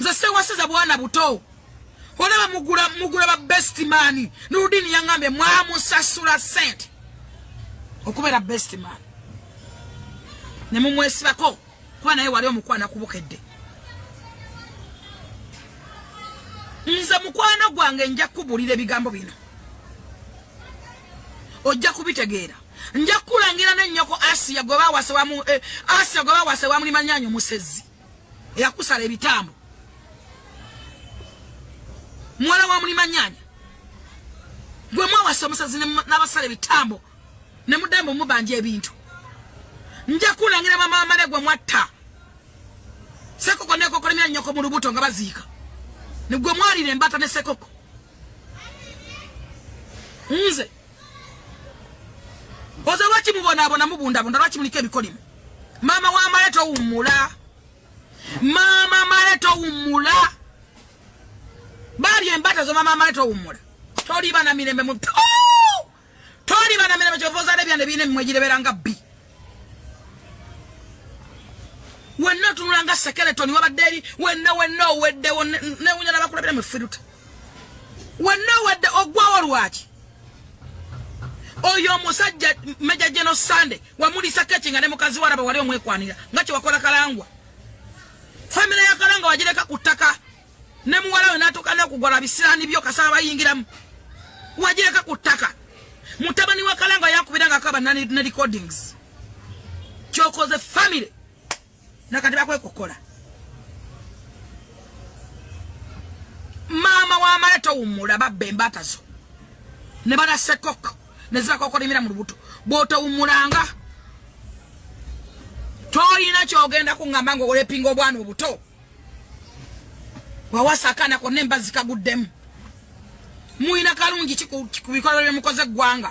nze sewasiza bwana buto olaba mugula mugula ba best man nurudini yangambe mwamusasula sente okubeera best man ne mumwesibako kuba naye wali omukwana kubukedde nze mukwano gwange nja kubuulira ebigambo bino ojja kubitegeera nja kukulangira nennyoko asiya gwe bawase wamu eh, asiya gwe bawase wamulimanyanyo musezi eyakusala ebitambo muwala wa mulima nyanya gwe mwawasa omusazi n'abasala ebitambo ne mudembe omubanja ebintu nja kulangira mama wamale gwe mwatta sekoko nekokolemya nyoko mu lubuto nga baziika nigwe mwalira embata ne sekoko nze oze lwaki mubonaabona mubundabunda lwaki muliko ebikolimo maama wa male towummula maama male towummula bali embata zo maama male towummula toliba na mirembe mu toliba na mirembe kyova ozala ebyana ebirina emimwe gireberanga bbi wenna otunula nga sekeletoni wabadde eri wenna wenna oweddewo newunya nabakulabira mu firuta wenna owedde ogwawo lwaki oyo omusajja meja geno sande wamulisa keki nga ne mukazi waraba wali omwekwanira nga kyewakola kalangwa famire ya kalangwa wagireka ku ttaka ne muwalawe natuuka n'okugwa lwa bisiraani byo kasaba bayingiramu wagireka ku ttaka mutabani wa kalanga yakubira nga akaba ne recordings kyokoze family nakati bakwekukola maama wamale towummula babba embaata zo ne banasekoko ne zibakokolimira mu lubuto bwotowummulanga tolina kyogenda kuŋŋamba nga olepinga obwana obuto wawasa akaana konna embazzi kaguddemu mulina kalungi ku bikolwa byemukoze eggwanga